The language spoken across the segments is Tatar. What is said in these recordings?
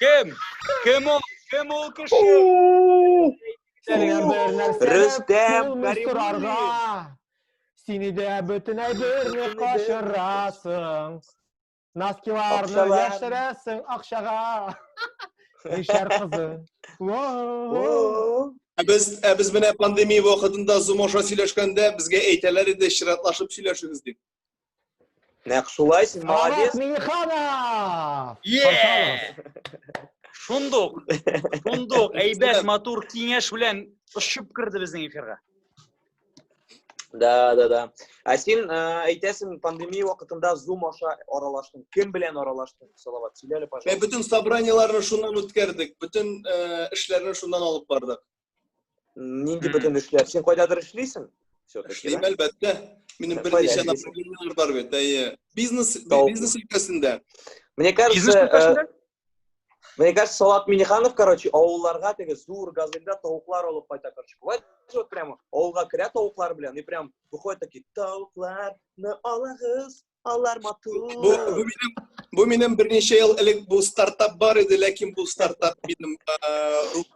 Кем? Кем ул? Кем ул кеше? Рөстәм Каримуллин. Сине дә бөтенләй берне качырасың. Носкиларны яшерәсең акчага. Мишәр кызы. Ә без ә без менә пандемия вакытында зум аша сөйләшкәндә безгә әйтәләр иде чиратлашып сөйләшегез дип. Нәкъ шулай син молодец. Миниханов! Шундук, шундук әйбәт матур киңәш белән очып керде безнең эфирга. Да, да, да. Ә син э, әйтәсең, пандемия вакытында Zoom аша аралаштың. Кем белән аралаштың? Салават, сөйлә әле, пожалуйста. Без бөтен собраниеләрне шуннан үткәрдек, бөтен э, эшләрне шуннан алып бардык. нинди бөтен эшләр син кайдадыр эшлисең все таки эшлим әлбәттә минем берничә направлениеләр бар бит әйе бизнес бизнес өлкәсендә мне кажется э, мне кажется салат миниханов короче авылларга теге зур газельдә тавыклар алып кайта короче бывает вот прямо авылга керә тавыклар белән и прям выходит такие тавыкларны алагыз Аллар матур. Бу, бу минем бу минем берничә ел элек бу стартап бар иде, ләкин бу стартап минем рух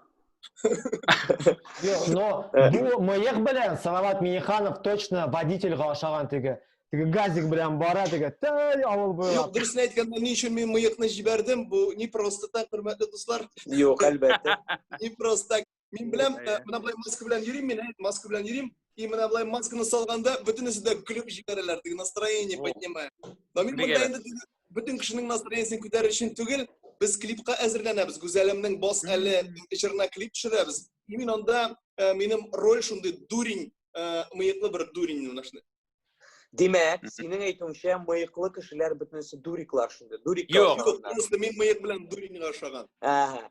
Юк, но э. бу мыек белән Салават Миниханов точно водительга ашаган теге. Теге газик белән бара теге. Тәй авыл буйлап. Юк, дөресен әйткәндә, ни өчен мин мыекны җибәрдем? Бу не просто так, хөрмәтле дуслар. Юк, әлбәттә. Не просто так. Мин беләм, э, менә болай маска белән йөрим мин, әйт, маска белән йөрим. И менә болай масканы салганда бөтенесе дә көлеп җибәрәләр, теге настроение поднимая. Но мин монда инде бөтен кешенең настроениесен күтәрер өчен түгел, без клипка әзерләнәбез. Гүзәлемнең бос әле җырына клип төшерәбез. И мин анда э, минем роль шундый дурень, э, мыеклы бер дурень менә шундый. Димәк, синең әйтүеңчә, мыеклы кешеләр бөтенесе дуриклар шунда. Дурик. Юк, просто мин мыек белән дуринга ашаган. Ага.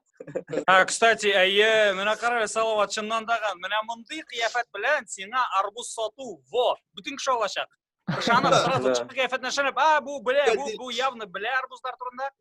Ә, кстати, әйе, менә кара, Салават чыннан да ган. Менә мондый кыяфәт белән сиңа арбуз сату, во, бөтен кеше алачак. Ышанып, сразу чыгып кыяфәтенә ышанып, а, бу белә, бу, бу явно белә арбузлар турында.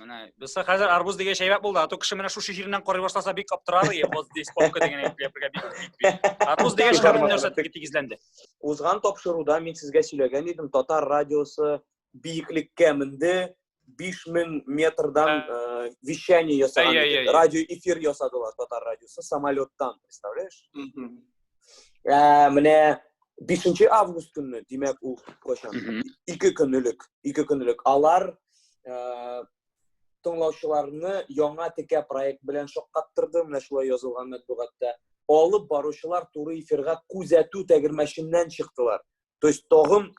Менә бездә хәзер арбуз дигән шәйбәк булды. Ату кеше менә шушы җиреннән карый башласа бик аптырар и, вот здесь попка дигән әйтелгән бик бик. Арбуз дигән шәйбәк нәрсә тиге тигезләнде. Узган тапшыруда мин сезгә сөйләгән идем, татар радиосы биеклеккә менде, 5000 метрдан э, вещание ясаган, радио эфир ясадылар татар радиосы самолеттан, представляешь? Ә, менә 5 август көнне, димәк, ул кайчан? Ике көнлек, ике көнлек. Алар ә, тыңлаучыларны яңа текә проект белән шаккаттырды, менә шулай язылган матбугатта. Алып баручылар туры эфирга күзәтү тәгәрмәченнән чыктылар. То есть тагын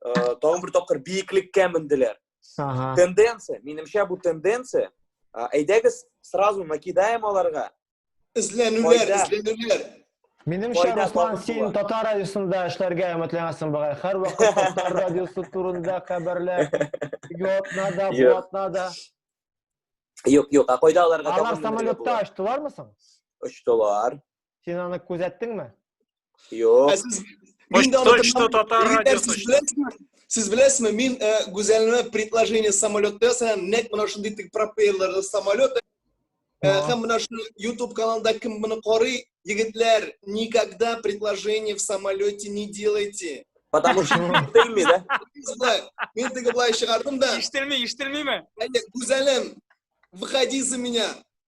ә, тагын бер тапкыр биеклеккә менделәр ага. тенденция минемчә бу тенденция ә, әйдәгез сразу накидаем аларга эзләнүләр эзләнүләр Минемчә, Руслан, син татар радиосында эшләргә өметләнәсең бугай. Һәрвакыт татар радиосы турында хәбәрләр. Ятна да, ятна да. Юк, юк, а кайда аларга? Алар самолетта очтылармы соң? Очтылар. Син аны күзәттеңме? Юк. Почта татар радиосы. Сез беләсезме, мин гүзәлне предложение самолетта сән нәк менә шундый тик пропеллерлы самолет Һәм менә шул YouTube каналында кем моны карый, егетләр, никогда предложение в самолете не делайте. Потому что ишетелми, да? Мин теге былай чыгардым да. Ишетелми, ишетелмиме? Әйе, Гүзәлем, выходи за меня.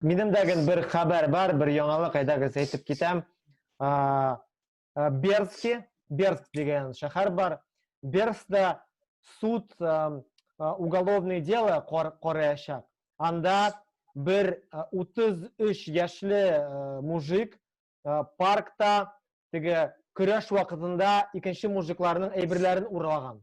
Минем дә гел бер хәбәр бар, бер яңалык әйдәгез әйтеп китәм. Бердски, Бердск дигән шәһәр бар. Бердскта суд уголовный дело караячак. Анда бер 33 яшьле мужик паркта теге көрәш вакытында икенче мужикларның әйберләрен урлаган.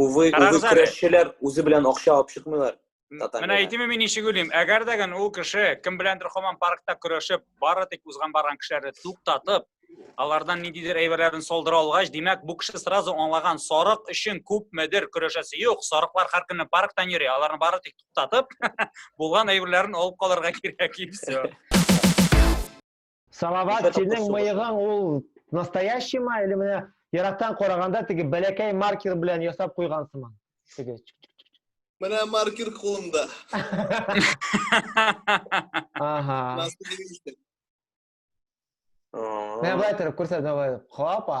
Увы, увы, көрәшчеләр үзе белән акча алып чыкмыйлар. Менә әйтеме мин ничек уйлыйм, әгәр дә гән ул кеше кем беләндер хаман паркта көрәшеп, бары тик узган барган кешеләрне туктатып, алардан ниндидер әйберләрен солдыра алгач, димәк, бу кеше сразу аңлаган, сарык өчен күпмедер көрәшәсе юк, сарыклар һәр көнне парктан йөри, аларны бары тик туктатып, булган әйберләрен алып калырга кирәк и все. Салават, синең мыегың ул настоящий ма, или менә ерактан караганда теге бәләкәй маркер белән ясап куйган сыман? Теге. Менә маркер кулымда. Ага. Менә былай торып күрсәт, давай. Хопа.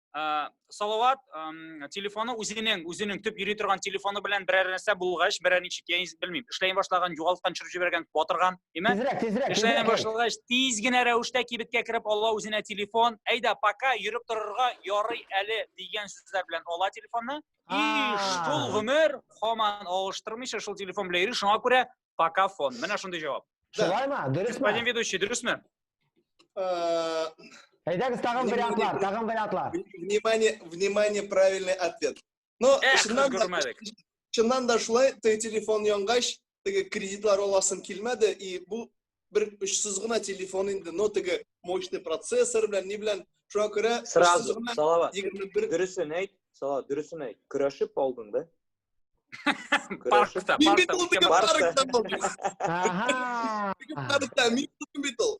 Э, салават эм, телефоны үзенең үзенең төп йөри торган телефоны белән берәр нәрсә булгач берәр ничек я белмим эшләй башлаган югалткан төшереп җибәргән батырган имә тизрәк тизрәк эшләй башлагач тиз генә рәвештә кибеткә кереп ала үзенә телефон әйдә пока йөреп торырга ярый әле дигән сүзләр белән ала телефонны и шул гомер хаман алыштырмыйча шул телефон белән йөри шуңа күрә Покафон. Менә шундый җавап. Шулай ма? Дөресме? Господин ведущий, дөресме? Э, Әйдәгез тагын вариантлар, тагын вариантлар. Внимание, внимание, правильный ответ. Но Эх, чыннан да, чыннан да шулай, теге телефон янгач, теге кредитлар аласың килмәде, и бу бер очсыз гына телефон инде, но теге мощный процессор белән, ни белән, шуңа күрә сразу салават. 21 дөресен әйт, салават, дөресен әйт. Көрәшеп алдың да? Паркта, паркта, паркта. Аха. Паркта, мин бит ул.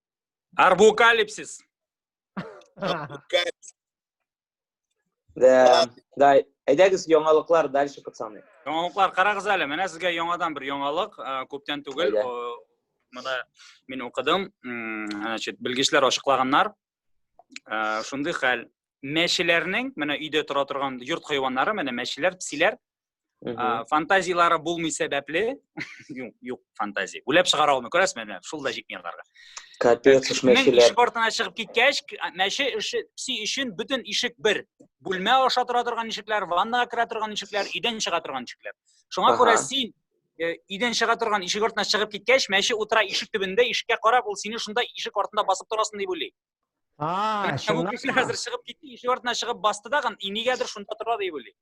Арбукалипсис. Да, да, әйдәгез яңалыклар дальше пацаны. Яңалыклар карагыз әле, менә сезгә яңадан бер яңалык, күптән түгел. Менә мин укыдым, значит, белгечләр ачыклаганнар. Шундый хәл. Мәчеләрнең, менә өйдә тора торган йорт хайваннары, менә мәчеләр, псиләр, ә, фантазиялары булмый сәбәпле юк юк фантазия уйлап чыгара алмый күрәсезме менә шул да җитми аларга капец уж мәчеләр ишек артына чыгып киткәч мәче эше пси өчен бөтен ишек бер бүлмә аша тора торган ишекләр ваннага керә торган ишекләр өйдән чыга торган ишекләр шуңа күрә син э, өйдән чыга торган ишек артына чыгып киткәч мәче утыра ишек төбендә ишеккә карап ул сине шунда ишек артында басып торасың дип уйлый а шуннан хәзер чыгып китте ишек артына чыгып басты да и нигәдер шунда тора дип уйлый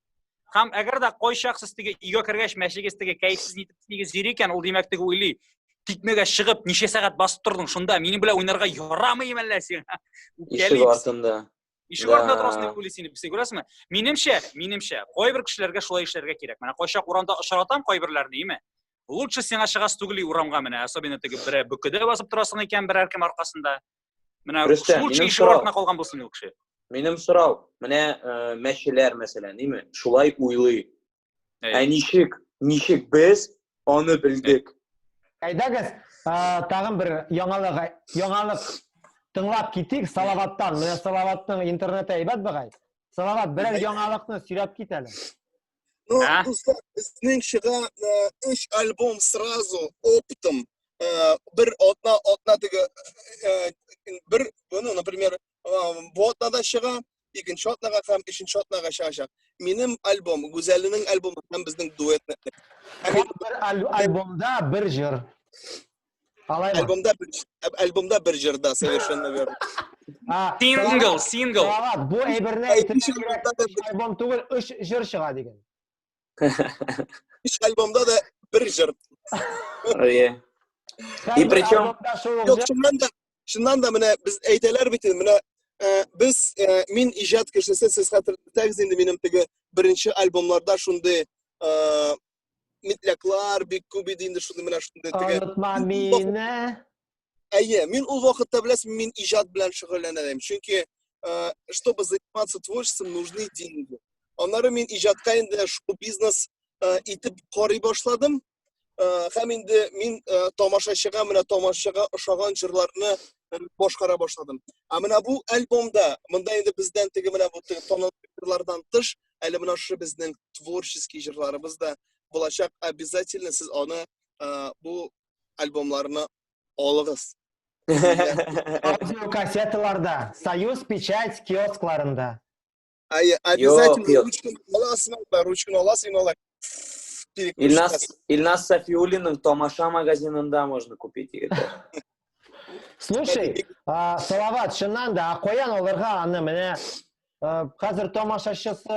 һәм әгәр дә кайчак сез теге өйгә кергәч мәчегез теге кәефсез нитеп теге зир икән ул димәк теге уйлый тикмәгә чыгып ничә сәгать басып тордың шунда минем белән уйнарга ярамый әллә син ишек артында ишек артында торасың дип уйлый сине син күрәсеңме минемчә минемчә кайбер кешеләргә шулай эшләргә кирәк менә кайчак урамда очратам кайберләрне име лучше сиңа чыгасы түгел урамга менә особенно теге берәр бөкедә басып торасың икән берәр кем аркасында Менә случай шул артына калган булсын ул кеше. Минем сорау, менә э, мәчеләр мәсәлән, ниме? Шулай уйлый. Ә ничек? Ничек без аны белдек? Әйдәгез, тагын бер яңалык, яңалык тыңлап китик Салаваттан. Менә Салаватның интернеты әйбәт бегай. Салават, берәр яңалыкны сөйләп кит әле. Ну, а? дуслар, безнең чыга өч альбом сразу оптом. Бер атна, атна теге бер, ну, например, бу атнада чыга, икенче атнага һәм өченче атнага чыгачак. Минем альбом, Гүзәлнең альбомы һәм безнең дуэтны. Бер альбомда бер җыр. Алай ма? Альбомда бер альбомда бер җырда совершенно верно. А, Сингл, сингл. Салават, бу әйберне әйтергә кирәк. Өч альбом түгел, өч җыр чыга дигән. Өч альбомда да бер җыр. Ое. И причем... Юк, шуннан да, шуннан да менә без әйтәләр бит, менә э, без, э, мин иҗат кешесе, сез хәтерләтәгез инде минем теге беренче альбомларда шундый э, метляклар бик күп иде инде шундый менә шундый теге онытма мине әйе мин ул вакытта беләсең мин иҗат белән шөгыльләнә идем чөнки э, чтобы заниматься творчеством нужны деньги аннары мин иҗатка инде шоу бизнес э, итеп карый башладым э, һәм инде мин тамашачыга менә тамашачыга ошаган җырларны башкара башладым а менә бу альбомда монда инде бездән теге менә бу танылган тыш Әле менә шушы безнең творческий җырларыбыз да булачак. Обязательно сез аны э, бу альбомларны алыгыз. Аудиокассеталарда, Союз печать киоскларында. Ай, обязательно Йо, ручканы аласың, да, ручканы аласың, алай. Ильнас, Ильнас Сафиуллинның Тамаша магазинында можно купить. Слушай, а, Салават, шыннан да, а каян алырга аны менә Э, хәзер тамашачысы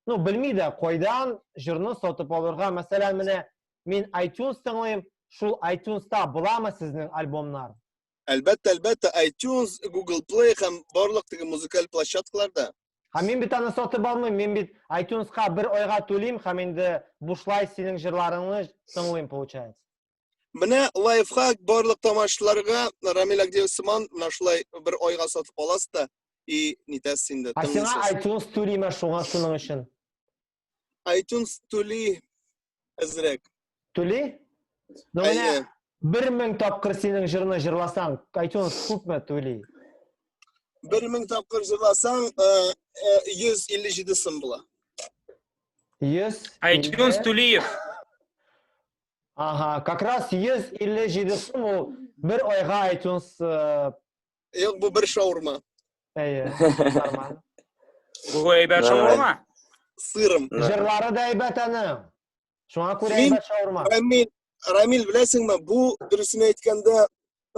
ну белми дә кайдан җырны сатып алырга мәсәлән менә мин itunes тыңлыйм шул itunes-та буламы сезнең альбомнар әлбәттә әлбәттә itunes google play һәм барлык теге музыкаль площадкаларда һәм мин бит аны сатып алмыйм мин бит itunes-ка бер айга түлим һәм инде бушлай синең җырларыңны тыңлыйм получается Менә лайфхак барлык тамашчыларга Рамил Агдеев сыман менә шулай бер айга сатып аласыз да и нитәсез инде. Ә сиңа iTunes түлиме шуңа шуның өчен? iTunes түли әзрәк. Түли? Ну менә 1000 тапкыр синең җырны җырласаң, iTunes күпме түли? 1000 тапкыр җырласаң, 157 сум була. 100 iTunes түлиев. Ага, как раз 157 сум ул бер айга iTunes э, Юк, бу бер шаурма. әйе, нормально. Бу әйбәт шаурма. Сырым. Җырлары да әйбәт аны. Шуңа күрә Мин- әйбәт шаурма. Рамил, Рамил, беләсеңме, бу дөресен әйткәндә,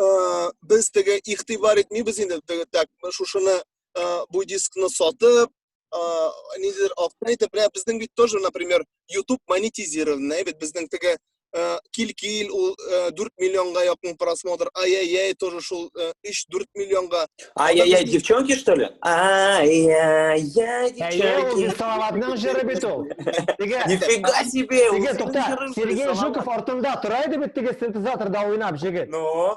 э, без теге игътибар итмибез инде теге так, шушыны э, бу дискны сатып, ә, нидер автонитеп менә безнең бит тоже например YouTube монетизированный бит безнең теге ә, кил кил ул ә, 4 миллионга якын просмотр ай ай ай тоже шул 3-4 миллионга ай ай ай девчонки что ли ай ай ай девчонки салаватның жыры бит ул теге нифига себе теге тукта сергей жуков артында тора иде бит теге синтезаторда уйнап жигит ну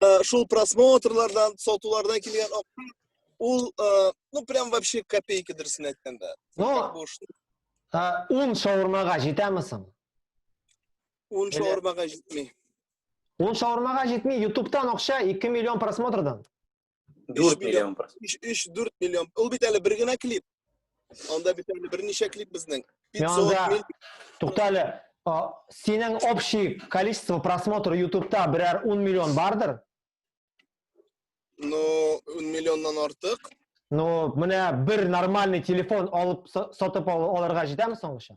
э, шул просмотрлардан сатулардан килгән акча ул э, ну прям вообще копейка дөресен әйткәндә ну ун шаурмага җитәме соң ун шаурмага җитми ун шаурмага җитми ютубтан акча ике миллион просмотрдан дүрт миллион өч дүрт миллион ул бит әле бер генә клип Анда бит әле берничә клип безнең. 500 мил. Туктале, синең общий количество просмотр ютубта берәр 10 миллион бардыр? Ну, 10 миллионнан артык. Ну, менә бер нормальный телефон алып сатып алырга җитәме соңгыча?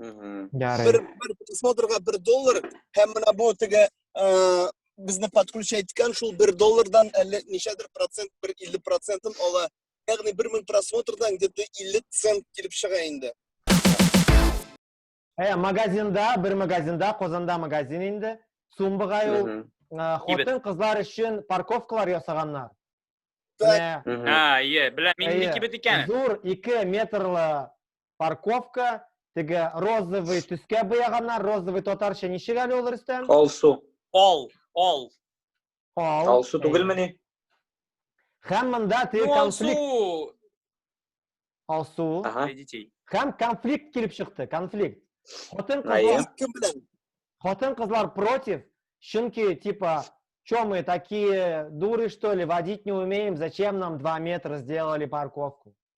Ярый. Bir, bir просмотрга bir dollar һәм менә бу теге безне подключа иткән шул бер доллардан әллә ничәдер процент бер илле процентын ала ягъни бер мең просмотрдан где то илле цент килеп чыга инде ә магазинда бер магазинда казанда магазин инде сумбыга ул хатын кызлар өчен парковкалар ясаганнар а иә беләм мин кибет икән зур ике метрлы парковка, теге розовый төскә буяганнар, розовый татарча ничек әле ул Рөстәм? Алсу. Ал, ал. Ал. Алсу түгелме ни? Һәм монда теге ну, конфликт. Алсу. Алсу. Ага. Һәм конфликт килеп чыкты, конфликт. Хатын кызлар кем белән? Хатын кызлар против, чөнки типа Че мы такие дуры, что ли, водить не умеем, зачем нам 2 метра сделали парковку?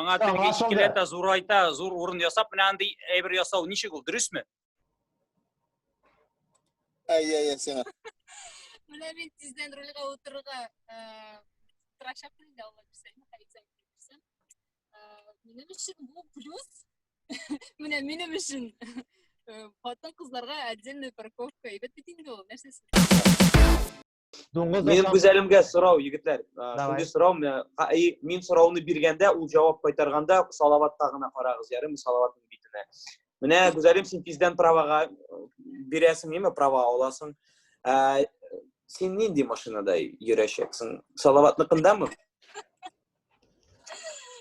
аңа теге икеләтә зурайта зур урын ясап менә андый әйбер ясау ничек ул дөресме әйе әйе сиңа менә мин тиздән рульга утырырга тырышамын инде алла бирсә хәйрисән бирсен минем өчен бу плюс менә минем өчен хатын кызларга отдельная парковка әйбәт бит инде ул нәрсәсе дуңгыз менин гүзәлемгә сорау егетләр шундый сорау мин сорауны биргәндә ул җавап кайтарганда салаватка гына карагыз ярыймы салаватның битенә менә гүзәлем син тиздән правага бирәсең име права аласың син нинди машинада йөрәчәксең салаватныкындамы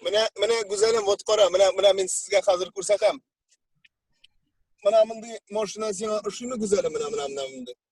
менә менә гүзәлем вот кара менә менә мин сезгә хәзер күрсәтәм менә мондый машина сиңа ошыймы гүзәлем менә менә менә мондый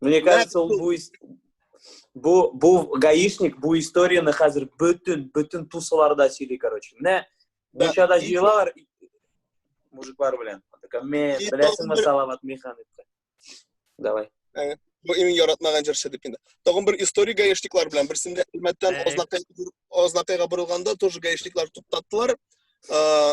Ну, мне кажется, ул бу бу бу гаишник бу историяны хәзер бөтен бөтен тусыларда сөйли, короче. Менә Бишада җыелалар мужиклар белән. Мен беләсеңме Салават механикка? Давай. Э, бу иң яратмаган җырчы дип инде. Тагын бер история гаишниклар белән берсендә Әлмәттән Ознакайга э. бурылганда тоже гаишниклар туктаттылар. Э,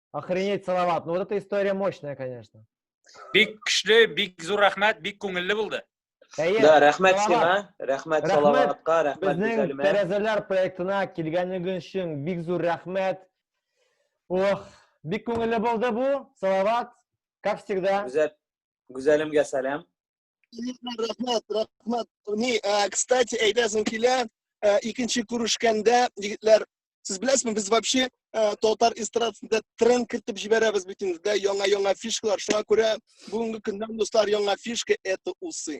Охренеть, Салават. Ну вот эта история мощная, конечно. Бик күчле, бик зур рәхмәт, бик күңелле булды. Әйе, Да, рәхмәт Салават. сиңа, рәхмәт Рәхмәт. Салаватка, рәхмәт Безнең Гүзәлемә. тәрәзәләр проектына килгәнегез өчен бик зур рәхмәт. Ох, бик күңелле булды бу. Салават, как всегда. Гүзәл Гүзәлемгә сәлам. рәхмәт рәхмәт ни э, кстати әйтәсең килә э, икенче күрешкәндә егетләр сез беләсезме без вообще э, татар эстрадасында тренд кертеп җибәрәбез бит инде дә яңа яңа фишкалар шуңа күрә бүгенге көндән дуслар яңа фишка это усы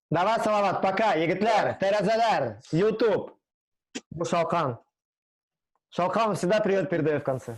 Давай, Салават, пока, егетләр, тәрәзәләр, YouTube. Бу шалкан. Шалкан всегда привет передаю в конце.